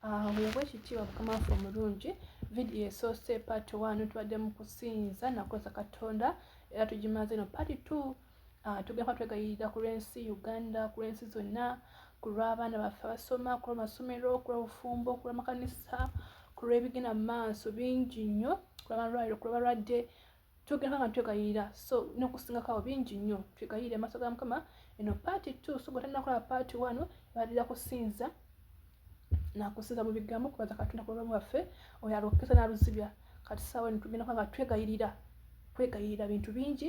Weebwe ekitiibwa mukama waffe omulungi vidiyo esoose paati one tubadde mu kusinza nakozesa katonda era tugimaze no paati two ah, tugenda twegayirira ku lw'ensi uganda ku lw'ensi zonna ku lw'abaana baffe abasoma ku lw'amasomero ku lw'obufumbo ku lw'amakanisa ku lw'ebigenda mu maaso bingi nnyo ku lw'amalwaliro ku lw'abalwadde tugenda nga twegayirira so nokusingako awo bingi nnyo twegayirire amaaso ga mukama eno paati t so gwe tanakola paati one ebalira kusinza nakusinza mu bigambo kubaza katonda ku bulamu bwaffe oyo alokesa naluzibya kati saawa eno tugenda nga twegayirira kwegayirira bintu bingi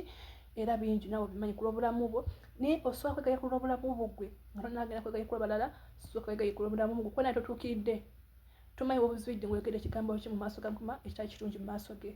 era bingi nawe obimanyi ku lwobulamu bwo naye osobola kwegaye ku lwobulamu bwo gwe nga tonagenda kwegaye ku lwabalala soka kwegaye ku lwobulamu bwo kuba naye totuukiridde tomanyi wobuzibidde ngwegere ekigambo ki mu maaso ga mukama ekitali kirungi mu maaso ge okay.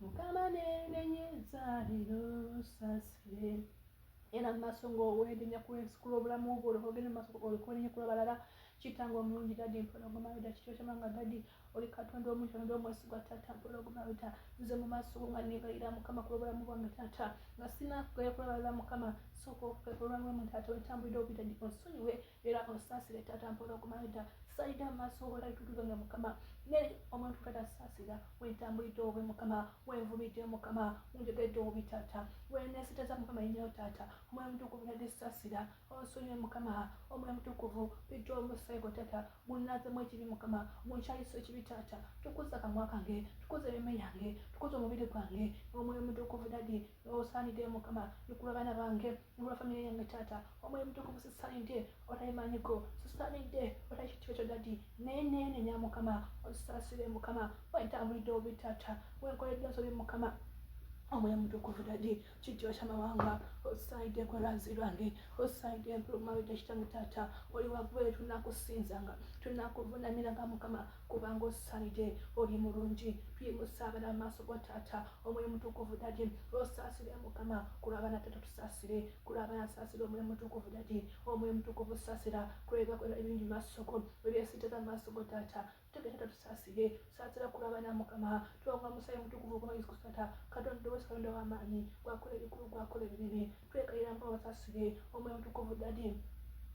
mukama nenenyeza lero sasire era mu maaso ngaowenenya kwensikula obulamu bwo olwogende mu maaso olikolenye kula balala kitanga omulungi dadi mpola ogumawida kityo kyamanga dadi oli katonda omuntu ondo omwesigwa tata mpola ogumawida nze mu maaso go nga nebayira mukama kula obulamu bwange tata nga sinakugayakulabala mukama sooka okukekulwamu tata wentambulira obitadi onsonyiwe era onsasire taata mpola okumanya dda salida amaaso obola bitutuza nga mukama ne omuntu kata sasira wentambulidde obe mukama wenvumidde mukama unjogedde obi taata wenesiteza mukama yenyewo taata omwoyo mutukuvu nadi sasira onsonyiwe mukama omwoyo mutukuvu pija omusego taata gunazemu ekibi mukama gunkyayisa ekibi taata tukuza kamwa kange tukuza ememe yange tukuza omubiri gwange omwoyo mutukuvu dadi osanidde mukama nikula abaana bange Nobwa family yange taata omwoyo mutukuvu sisanidde otalimanyiko sisanidde otakitiba kyo dadi naye neenenya mukama onsasire mukama wentambulidde obi taata wenkoledde nsobi mukama omwoyo mutukuvu dadi kityo kyamawanga osaide kwerazi lwange osaide empulumawita kitange taata oli wagweyo tunakusinzanga tunakuvunamiranga mukama kubanga osanide oli mulungi tuyimusaabala amaaso go taata omwoyo mutukuvu dadi osaasire mukama kulwabana tata tusaasire kulwabana saasira omwoyo mutukuvu dadi omwoyo mutukuvu saasira kulwebakona ebingi maasoko ebyesiteka maaso go taata tutegere tata tusaasire saasira kulwabana mukama twonga musayi mutukuvu gwa yesu kristo tata katonda wesi katonda w'amaanyi gwakola ebikulu gwakola ebinene twegayira mpa wasasire omwoyo mutukuvu dadi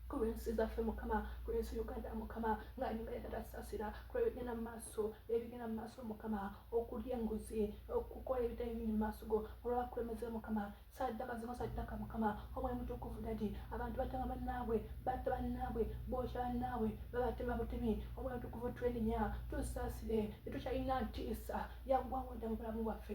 kulwensi zaffe mukama kulwensi uganda mukama nga nyumba yatatasasira kulwebigenda mu maaso ebigenda mu maaso mukama okulya enguzi okukola ebitali biri mu maaso go olwabakulemeze mukama saddaka zino saddaka mukama omwoyo mutukuvu dadi abantu batama bannaabwe batta bannaabwe bookya bannaabwe babatema butemi omwoyo mutukuvu twenenya tusasire tetukyalina ntiisa yaggwawodda mu bulamu bwaffe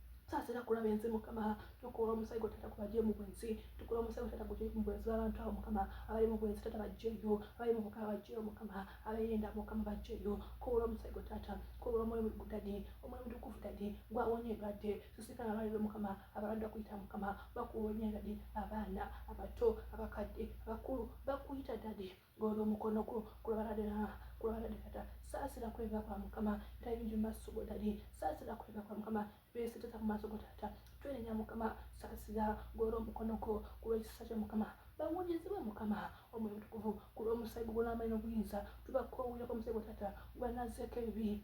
saasira kulaba ensi mukama tukula omusayi gwe tata kubaje mu bwensi tukula omusayi gwe tata guje mu bwensi abantu awo mukama abali mu bwensi tata bajjeyo abali mu bukaba bajjeyo mukama abayenda mukama bajjeyo kubula omusayi gwe tata kubula omwoyo mugudade omwoyo mutukuvu dade gwawonye endwadde sisika abaliro mukama abalanda kuyita mukama bakuwonye dade abaana abato abakadde abakulu bakuyita dade Golola omukono gwo kulabadde kulabadde kata saasira kwega kwa mukama era yingi mu maaso go dadi saasira kwega kwa mukama byesiteza mu maaso go taata twenenya mukama saasira golola omukono gwo kulwekisa kya mukama bawonyezebwe mukama omwoyo mutukuvu kulwomusayi gugwo n'amayi n'obuyinza tubakoowulira kwa musayi gwa taata gwanazzeeko ebibi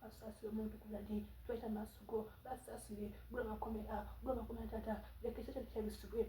basasire omuntu kuladi tweta maaso go basasire gwe bakomera gwe bakomera tata leka ekyo kyali kyabisibwe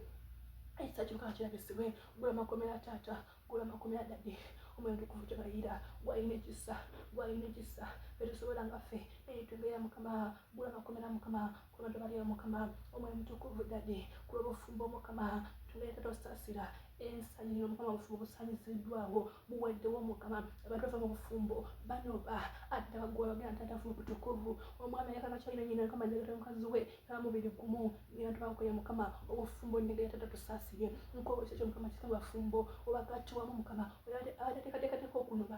ekisa kyoka kirabisibwe gwe bakomera tata gwe bakomera dadi omwoyo tukuvu kyebayira gwalina ekisa gwalina ekisa fetusobola nga ffe naye tubeera mukama gwe bakomera mukama kuno tubalira mukama omwoyo mutukuvu dadi kulwobufumbo mukama tuleeta tosaasira ensanyiro mukama obufumbo busanyiziddwawo buweddewo mukama abantu bava mu bufumbo banoba ate abagwa bagenda tatafu mubutukuvu omwami ayagala kyalina nyina mukama njagata mukazi we namubiri gumu ngena tubakoye mukama obufumbo njagala tata tusaasire nkobo kyekyo mukama kika bafumbo obakati wamu mukama abateekateekateka okunoba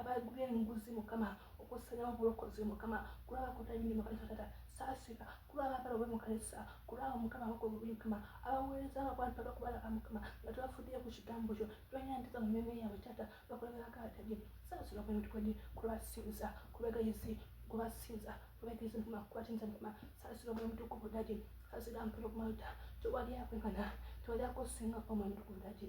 abagula enguzi mukama okusanyawo obulokozi mukama kulaba kutanyini mukama tatata saasira kulaba abagala obe mukanisa kulaba mukama abako obubi mukama abaweereza abantu abakubalaba mukama nga tebafuddeyo ku kigambo kyo tonyandika mu myoyo yabwe tata bakulabirakaatagi saasira omutukwedi kulwasinza kubegayisi kubasinza kubegayisi mukama kubatinza mukama saasira omwoyo mutukuvu dagi saasira mpero kumauta tewali akwekana tewali akosinga omwoyo mutukuvu dagi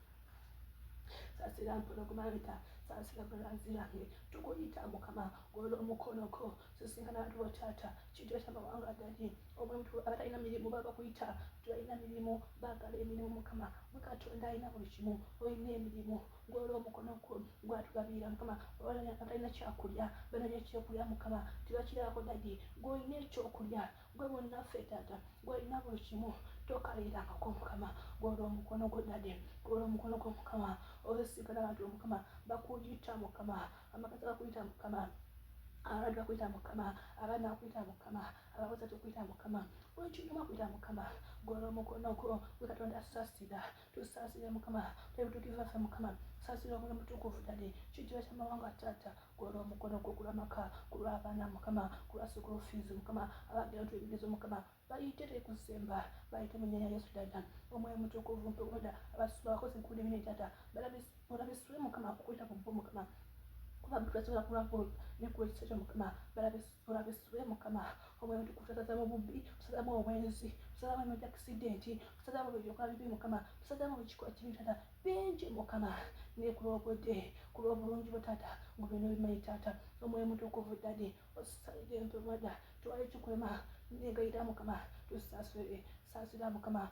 sasira mpono kumabita sasira kulanzirange tukuyita mukama golo omukonoko sisinkana bantu botata kitweta mawanga gadi omuntu abatalina mirimu babakuyita tubalina mirimu bagala emirimu mukama mukatonda alina buli kimu olina emirimu golo omukono gwo gwatugabirira mukama abatalina kyakulya bananya ekyokulya mukama tebakirako dadi gweolina ekyokulya gwe bonna ffe taata gwolina buli kimu tokalira amaka omukama gwola omukono gwo dade gwola omukono gwo mukama osigala abantu omukama bakuyita mukama amakazi bakuyita mukama abantu bakuyita mukama abaana bakuyita mukama abakozi tukuyita mukama buli kinyuma kuyita mukama gwola omukono gwo gwe katonda sasira tusaasire mukama twebutukiza ffe mukama saasira omuli mutukuvu dade kijira kyamawanga taata gwona omukono gwo kulwa maka kulwa abaana mukama kulwa sukulu fiizi mukama abagera nti ebigezo mukama bayite tekusemba bayite munyanya yesu dada omwoyo mutukuvu mpewoda abasuba abakozi nkuli mine tata balabisa balabe sula mukama akukwita mu bo mukama kuba tulasobola kulako nekula ekisa kyo mukama balabe sula mukama omwoyo tukusasaza mu bubbi tusazamu obwenzi tusazamu emyoja akisidenti tusazamu byoka bibi mukama tusazamu ekiko ekibi tata bingi mukama naye ku lwobudde ku lwobulungi bwo tata ngu byona bimanyi tata omwoyo mutukuvu dadi osalire empemada twali tukulema negayira mukama tusasire sasira mukama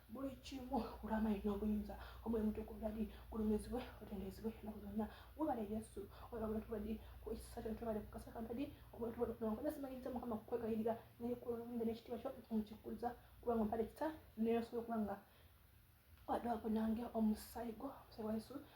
buli kimu olwamaanyi n'obuyinza omwoyo mutukuvu dadi gulumizibwe otendezebwe enaku zonna webale yesu webale tubadi kuekisa kyo tubale kukasaka dadi omwoyo tubale kunawankoza simanyiza mukama kukwegayirira naye kulumizibwe n'ekitiibwa kyo nkikuzza kubanga mpale kisa neyosobola okuba nga wadde wakunange omusaayi gwo omusaayi wa yesu